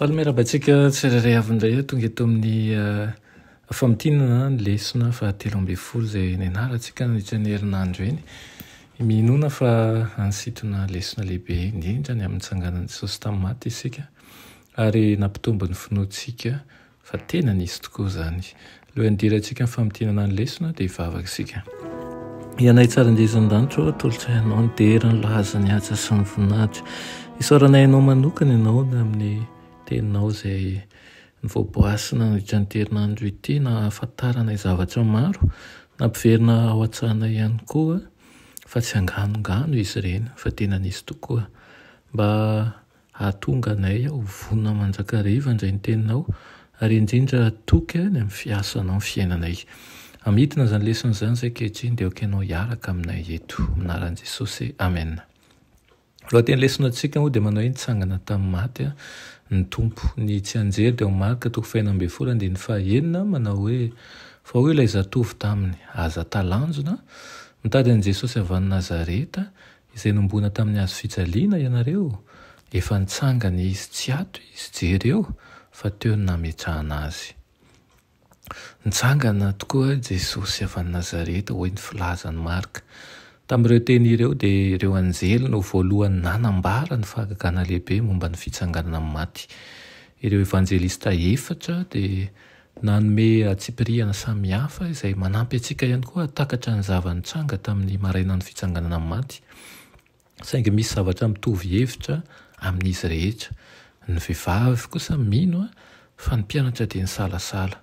Faly miarahaba antsika tsirairay avy indray tonga eto amin'ny eh, famintinana ny lesona fahatelo ambin'ny folo izay nianarantsika nandritra ny herinandro eny. Minoana fa hanisintona lesona lehibe indrindra ny amin'ny tsanganan'i Jesosy tamin'ny maty isika Ary nampitombo ny finoantsika fa tena nisy tokoa izany. Lohan-dirantsika amin'ny famintinana ny lesona dia hivavaka isika. Ianay Tsara indrindra any an-danitra ô, atolotra Anao ny dera, ny laza, ny haja sy ny voninahitra. Isaoranay Anao manokana ianao amin'ny Teninao izay novoaboasina nandritra an'ity herinandro ity, nahafantaranay zavatra maro, nampiverina ao an-tsainay ihany koa fa tsy anganongano izy ireny fa tena nisy tokoa. Mba Hahatonga anay ho vonona mandrakariva indray ny Teninao, ary indrindra hatoky any amin'ny fiasanao ny fiainanay. Hamidina izany lesona izany izay ankehitriny, dia aoka Ianao hiaraka aminay eto. Amin'ny anaran'i Jesosy, amena. Ny lohatenin'ny lesonantsika moa dia manao hoe Nitsangana tamin'ny maty ny Tompo. Ny tsianjery dia ao amin'ny Marka toko fahenina ambin'ny folo andininy fahaenina, manao hoe, Fa hoy ilay zatovo taminy, Aza talanjona, mitady an'i Jesosy avy any Nazareta, Izay nombona tamin'ny hazo fijaliana ianareo, efa nitsangana izy tsy ato izy, jereo fa teo ny nametrahana azy. Nitsangana tokoa Jesosy avy any Nazareta, hoy ny filazan'i Marka. Tamin'ireo teny ireo dia ireo anjely no voalohany nanambara ny fahagagana lehibe momba ny fitsanganana amin'ny maty. Ireo evanjelista efatra dia Nanome antsipirihana samihafa izay manampy antsika ihany koa hahatakatra ny zava-nitranga tamin'ny marainan'ny fitsanganana amin'ny maty. Saingy misy zavatra mitovy hevitra amin'izy rehetra. Ny vehivavy kosa mino fa ny mpianatra dia nisalasala.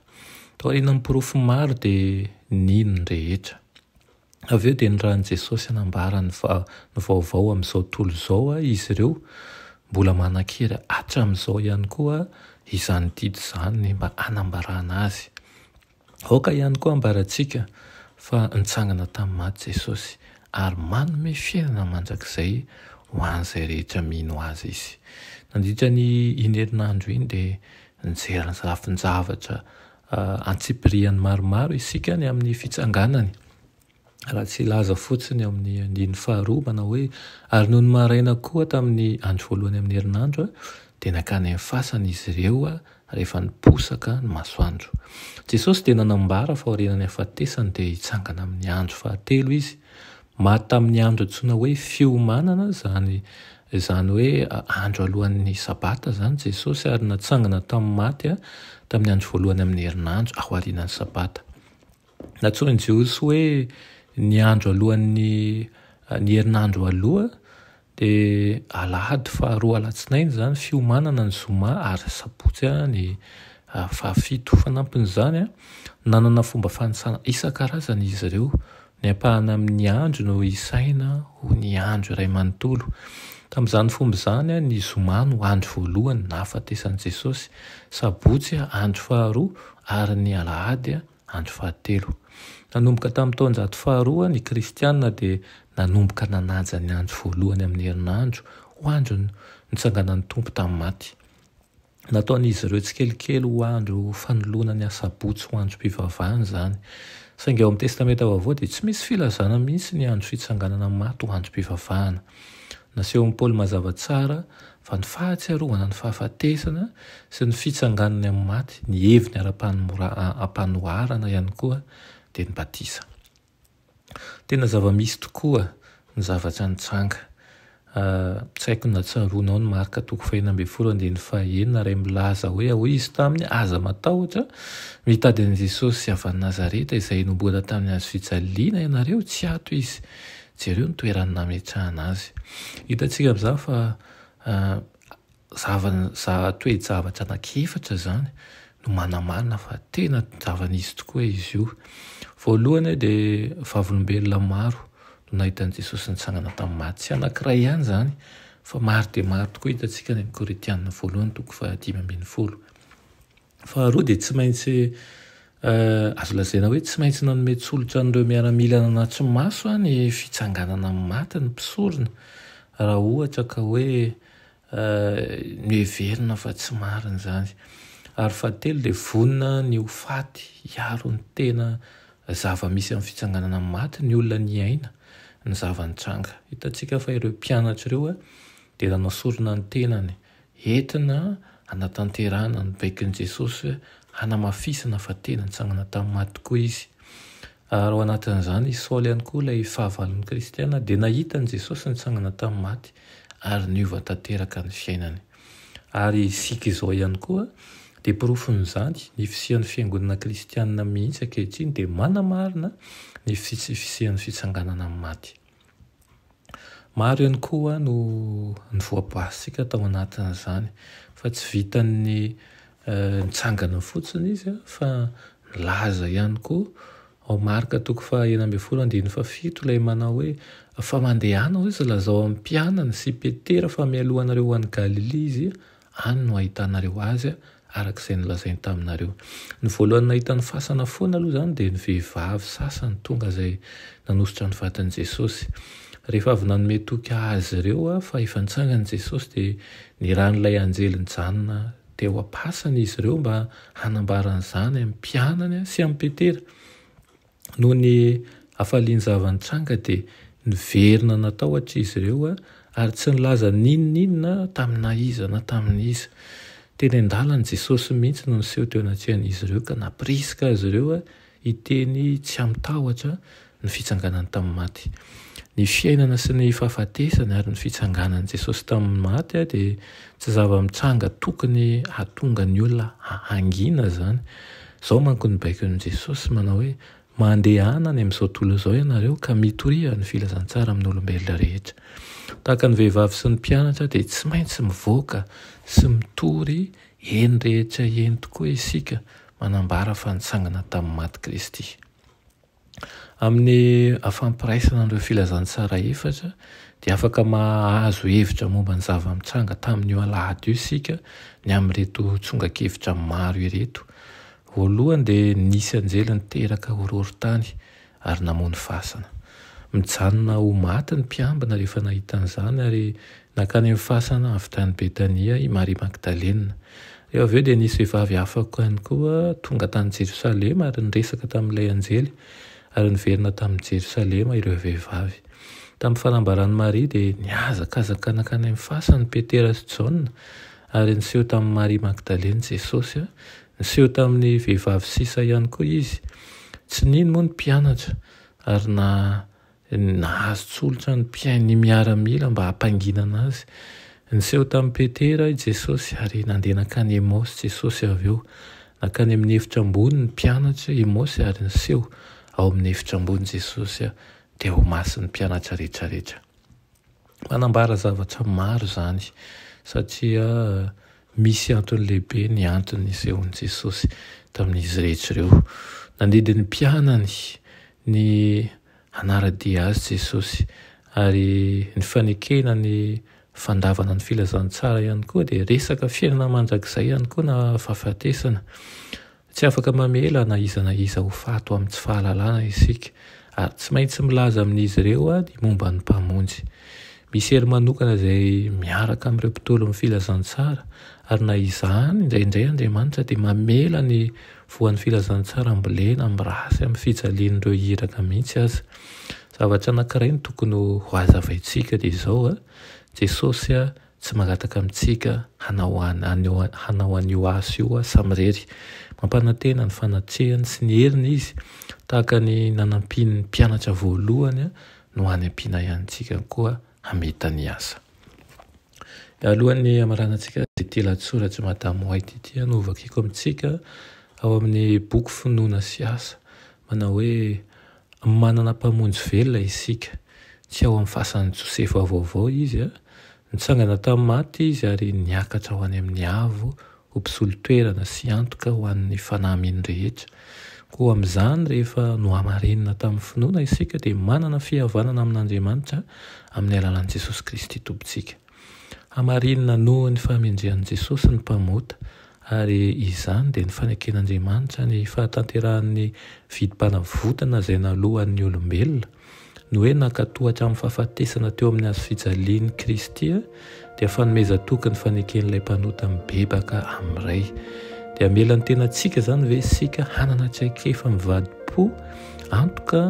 Taorian'ny porofo maro dia nino ny rehetra. Avy eo dia nirahin'i Jesosy hanambara ny vaovao amin'izao tontolo izao izy ireo, mbola manan-kery hatramin'izao ihany koa izany didy izany mba hanambarana azy. Aoka ihany koa hambarantsika fa nitsangana tamin'ny maty Jesosy, ary manome fiainana mandrakizay ho an'izay rehetra mino azy izy. Nandritra ny iny herinandro iny dia nijery ny lafin-javatra Antsipiriany maromaro isika ny amin'ny fitsanganany, raha tsy hilaza fotsiny ao amin'ny andininy faharoa, manao hoe, Ary nony maraina koa tamin'ny andro voalohany amin'ny herinandro, dia nankany amin'ny fasana izy ireo rehefa niposaka ny masoandro. Jesosy dia nanambara fa aorianan'ny hafatesany dia hitsangana amin'ny andro fahatelo Izy. Maty tamin'ny andro antsoina hoe Fiomanana, izany izany hoe andro alohan'ny Sabata izany, Jesosy ary natsangana tamin'ny maty tamin'ny andro voalohany amin'ny herinandro ao aorianan'ny Sabata. Nantsoin'ny Jiosy hoe ny andro alohan'ny ny herinandro aloha Dia alahady faharoa alatsinainy izany fiomanana ny zoma ary sabotsy ny fahafito. Fanampin'izany, nanana fomba fanisana isan-karazany izy ireo. Ny ampahany amin'ny andro no isaina ho ny andro iray manontolo. Tamin'izany fomba izany, ny zoma no andro voalohany nahafatesan'i Jesosy, sabotsy andro faharoa ary ny alahady andro fahatelo. Andro fahatelo. Nanomboka tamin'ny taonjato faharoa, ny Kristianina dia nanomboka nanaja ny andro voalohany amin'ny herinandro ho andron'ny nitsanganan'ny Tompo tamin'ny maty. Nataon'izy ireo tsikelikely ho andro fanoloana ny Asabotsy ho androm-pivavahana izany. Saingy ao amin'ny Testamenta Vaovao dia tsy misy filazana mihitsy ny andro fitsanganana amin'ny maty ho androm-pivavahana. Nasehon'i Paoly mazava tsara fa ny fahatsiarovana ny fahafatesana sy ny fitsanganany amin'ny maty, ny heviny ara-panoharana ihany koa dia ny batisa. Tena zava-misy tokoa ny zavatra nitranga. Tsy haiko na tsaroanao ny Marka toko fahenina ambin'ny folo andininy fahaenina ray milaza hoe, Hoy Izy taminy, Aza matahotra, mitady an'i Jesosy avy any Nazareta izay nomboana tamin'ny hazofijaliana ianareo, tsy ato Izy. Jereo ny toerany nametrahana azy. Hitantsika amin'izany fa zavana, toe-javatra anankiefatra izany no manamarina fa tena zava-nisy tokoa izy io. Voalohany dia vavolombelona maro no nahita an'i Jesosy nitsangana tamin'ny maty. Tsy anankiray ihany izany fa maro dia maro tokoa, hitantsika any amin'ny Korintiana voalohany toko fahadimy ambin'ny folo. Faharoa dia tsy maintsy azo lazaina hoe tsy maintsy nanome tsolotra an'ireo miaramila nanatso maso ny fitsanganana amin'ny maty ny mpisorona raha ohatra ka hoe noheverina fa tsy marina izany. Ary fahatelo dia vonona ny ho faty hiaro ny tena zava-misy amin'ny fitsanganana amin'ny maty ny olona niaina ny zava-nitranga. Hitantsika fa ireo mpianatra ireo dia nanao sorona ny tenany. Entina hanatanterahana ny baikon'i Jesosy hanamafisana fa tena nitsangana tamin'ny maty tokoa izy. Ary ao anatin'izany i Saoly ihany koa, ilay fahavalon'ny kristiana, dia nahita an'i Jesosy nitsangana tamin'ny maty ary niova tanteraka ny fiainany. Ary isika izao ihany koa dia porofon'izany, ny fisian'ny fiangonana kristiana mihitsy ankehitriny dia manamarina ny fisian'ny fitsanganana amin'ny maty. Maro ihany koa no ny voabasintsika tao anatin'izany fa tsy vitan'ny nitsangana fotsiny izy fa nilaza ihany koa ao Marka toko faha enina ambin'ny folo andininy faha fito ilay manao hoe, fa mandehana hoy izy lazao amin'ny mpianany sy Petera fa mialoha anareo ho any Galilia izy Any no ahitanareo azy araka izay nolazainy taminareo. Ny voalohany nahita ny fasana foana aloha izany dia ny vehivavy sasany tonga izay nanosotra ny vadin'i Jesosy. Rehefa avy nanome toky azy ireo fa efa nitsangan'i Jesosy dia niran'ilay anjely nijanona teo am-pasana izy ireo mba hanambara an'izany amin'ny mpianany sy amin'i Petera. Noho ny hafalian-java-nitranga dia niverina natahotra izy ireo ary tsy nilaza n'inon'inona taminà iza na tamin' iza. Teny an-dalana, Jesosy mihitsy no niseho teo anatrehan'izy ireo ka nampirisika azy ireo hiteny tsy amin-tahotra ny fitsanganany tamin'ny maty. Ny fiainana sy ny fahafatesany ary ny fitsanganan'i Jesosy tamin'ny maty dia tsy zava-mitranga tokony hahatonga ny olona hangina izany. Izao manko ny baikon'i Jesosy manao hoe, Mandehana any amin'izao tontolo izao ianareo ka mitoria ny filazantsara amin'ny olombelona rehetra. Tahaka ny vehivavy sy ny mpianatra dia tsy maintsy mivoaka sy mitory eny rehetra eny tokoa isika manambara fa nitsangana tamin'ny maty Kristy. Amin'ny afampiraisana an'ireo filazantsara efatra dia afaka mahazo hevitra momba ny zava-mitranga tamin'io alahady io isika ny amin'ireto tsongan-kevitra maro ireto. Voalohany dia nisy anjely niteraka horohorontany ary namono fasana. Mijanona ho maty ny mpiambina rehefa nahita an'izany ary Nankany amin'ny fasana avy tany Betania i Maria Magdalena. Eo avy eo dia nisy vehivavy hafa ihany koa tonga tany Jerosalema ary niresaka tamin'ilay anjely, ary niverina tamin'i Jerosalema ireo vehivavy. Tamin'ny fanambaran'i Maria dia nihazakazaka nankany amin'ny fasan'i Petera sy Jaona, ary niseho tamin'i Maria Magdalena Jesosy. Niseho tamin'ny vehivavy sisa ihany koa Izy. Tsy nino moa ny mpianatra ary na. Nahazo tsolotra ny mpihaino miaramila mba hampanginana azy. Niseho tamin'i Petera i Jesosy ary nandeha nankany Emaosy Jesosy avy eo. Nankany amin'ny efitra ambony ny mpianatra Emaosy ary niseho ao amin'ny efitra ambony Jesosy dia ho masin'ny mpianatra rehetra rehetra. Manambara zavatra maro izany satria misy antony lehibe ny antony nisehoan'i Jesosy tamin'izy rehetra ireo. Nandidy ny mpianany ny hanara-dia Azy Jesosy ary ny fanekena ny fandavana ny filazantsara ihany koa dia resaka fiainana mandrakizay ihany koa na fahafatesana. Tsy afaka mamela na iza na iza ho faty amin'ny tsy fahalalana isika, ary tsy maintsy milaza amin'izy ireo ny momba ny Mpamonjy. Misy hery manokana izay miaraka amin'ireo mpitolon'ny filazantsara, ary na izany, indraindray Andriamanitra dia mamela ny voan'ny filazantsara ambolena mirasy amin'ny fijalian'ireo iraka mihitsy aza. Zavatra anankiray no tokony hohazavaintsika dia izao, Jesosy Tsy mangataka amintsika hanao an, hanao an'io asa io aho samirery. Mampanantena ny fanatrehany sy ny heriny Izy, tahaka ny nanampiany ny mpianatra voalohany no hanampiana ihany antsika koa hamita ny asa. Alohan'ny hamaranantsika ity lahatsoratr'i Madame White ity aho no hovakiko amintsika ao amin'ny boky Finoana sy Asa, manao hoe, Manana Mpamonjy velona isika. Tsy ao amin'ny fasan'i Josefa vaovao Izy. Nitsangana tamin'ny maty Izy ary niakatra ho any amin'ny avo ho mpisolo toerana sy antoka ho an'ny fanahy mino rehetra. Koa amin'izany, rehefa nohamarinina tamin'ny finoana isika, dia manana fihavanana amin'Andriamanitra amin'ny alalan'i Jesosy Kristy Tompontsika. Hamarinina noho ny fahamejen'i Jesosy ny Mpamota, ary izany dia ny faneken'Andriamanitra ny fahatanterahan'ny vidim-panavotana izay naloan'ny olombelona. Ny hoe nankatò hatramin'ny fahafatesana teo amin'ny hazo fijalian'i Kristy dia fanomezan-toky ny faneken'ilay Mpanota mibebaka amin'ny Ray. Dia hamela ny tenantsika izany ve isika hanana traikefa mivadi-po antoka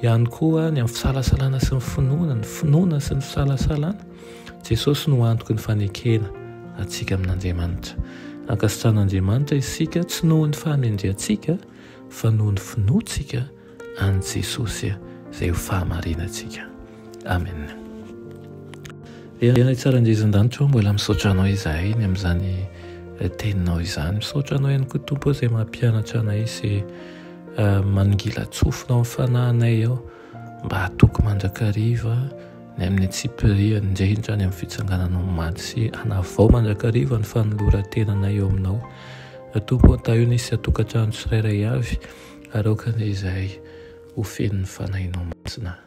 Ihany koa ny amin'ny fisalasalana sy ny finoana, ny finoana sy ny fisalasalana, Jesosy no antoky ny fanekena antsika amin'Andriamanitra. Ankasitrahan'Andriamanitra isika tsy noho ny fahamendrehantsika fa noho ny finoantsika an'i Jesosy izay ho fahamarinantsika. Amen. Ray tsara Jesoa an-danitra ô, mbola misaotra Anao izahay ny amin'izany teninao izany. Misaotra Anao ihany koa Tompo izay mampianatra anay sy manongilan-tsofinao ny fanahinay ao mba hatoky mandrakariva ny amin'ny antsipiriany indrindra any amin'ny fitsangananao omaly sy hanavao mandrakariva ny fanoloran-tenanay eo aminao. Tompo an-tahio ny isan-tokantrano tsirairay avy aroaka anay izahay ho fenon'ny fanahinao masina.